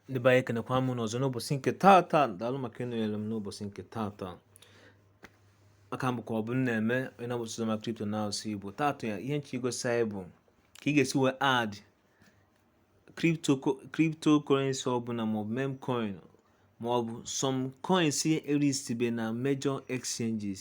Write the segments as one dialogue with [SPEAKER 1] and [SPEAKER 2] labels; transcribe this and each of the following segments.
[SPEAKER 1] ndị be anyị ekenekwa m unu ọzọ n'ụbọchị nke taata daalụ maka ịnọnyere m n'ụbọchị nke taata aka m bụ ka ọ bụ na-eme onye na-abụsị na kripto n'asụsụ igbo taata ya ihe m chọ igosi anyị bụ ka ị ga-esi wee add cryptocurrency ọbụla maọbụ meme coin maọbụ some coins e listibe na major exchanges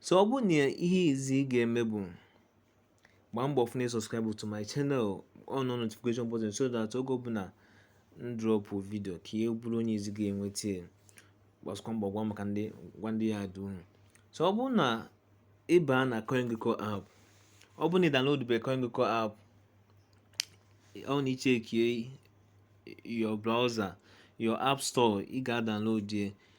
[SPEAKER 1] so ọ bụrụ na ihe izi ị ga-eme bụ gbaa mbọ fụ na i subscribe to my channel on on notification button so that oge ọbụla m drop video ka ị bụrụ onye izi ga-enweta ya gbazikwa mbọ gwa maka ndị gwa ndị ya dị unu so ọ bụrụ na ị baa na CoinGecko app ọ bụrụ na ị downloadbe CoinGecko app ọ na i checkie your browser your app store ị ga-download ya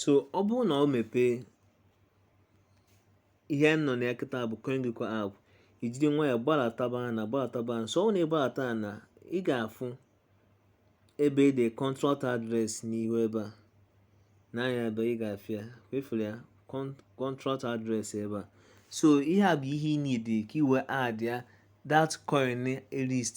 [SPEAKER 1] so ọ bụrụ na ọ mepee ihe m nọ na ya kịta bụ CoinGecko app ijiri nwayọ gbalataba ana gbalataba so ọ na ị gbalata ana ị ga-afụ ebe e de contract address n'ihu ebe a n'anya ebe ị ga-afịa wefere ya contract address ebe a so ihe a bụ ihe ị needi ka i wee addịa that coin list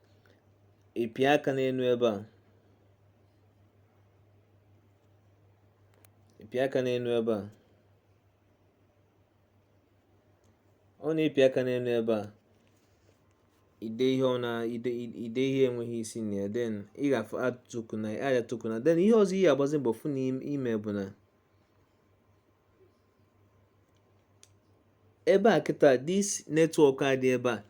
[SPEAKER 1] ị pịa aka n'elu ebe a ị pịa aka n'elu ebe a ọ na ị pịa aka n'elu ebe a ide ihe ọ na ide ide ihe enweghị isi na ya then ị ga-afụ add token ya add token then ihe ọzọ ị ga-agbazi mbọ fụ na i me bụ na ebe a kịta this network a dị ebe a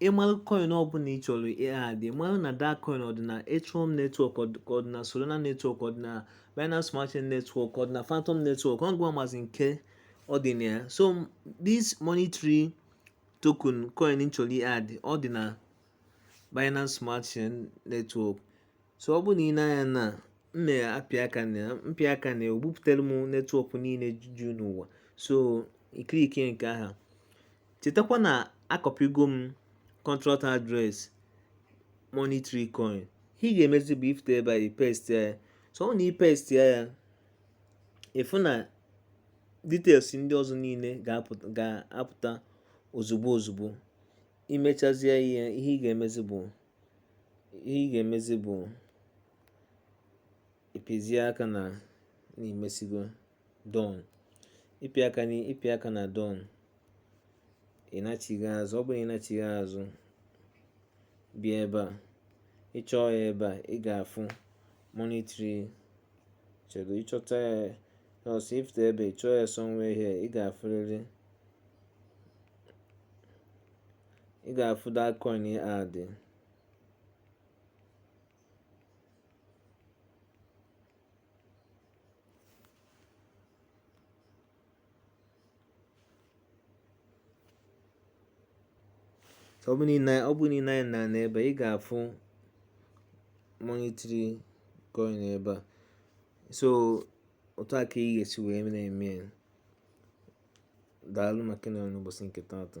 [SPEAKER 1] ị malụ coin ọbụla ị chọrọ ị-add ị malụ na that coin ọ dị na Ethereum network ka ọ dị na Solana network ọ dị na Binance Smart Chain network ọ dị na Fantom network ị ga-amazi nke ọ dị na ya so this money tree token coin ị chọrọ ị-add ọ dị na Binance Smart Chain network so ọ bụ na i nee anya na m na-apị aka na ya m pịa aka na ya o bupụtara m netwọk niile ju n'ụwa so i clickie nke ahụ chetakwa na acopygo m contract address money tree coin ihe ị ga-emezi bụ ị fụta ebe a i paste ya so ọ na i paste ya ị fụ na details ndị ọzọ niile ga-apụta ozugbo ozugbo i mechazie ihe a ihe ị ga-emezi bụ ihe ị ga-emezi bụ ị pịzie aka na na i mesigo done ị pị aka na ị pị aka na done ị nachigha azụ ọ bụrụ ị nachigha azụ bịa ebe a ị chọọ ya ebe a ị ga-afụ monetary chedo ịchọta ya ọsọ ifte ebe ị chọọ ya somewhere here ị ga-afụrịrị ị ga-afụ that coin adị ọ bụ niile ọ bụ niile anyị na n'ebe a ị ga-afụ monetary coin ebe a so otu a ka ị ga-esi wee na-eme ya daalụ maka ịnọrọ n'ụbọsị nke taata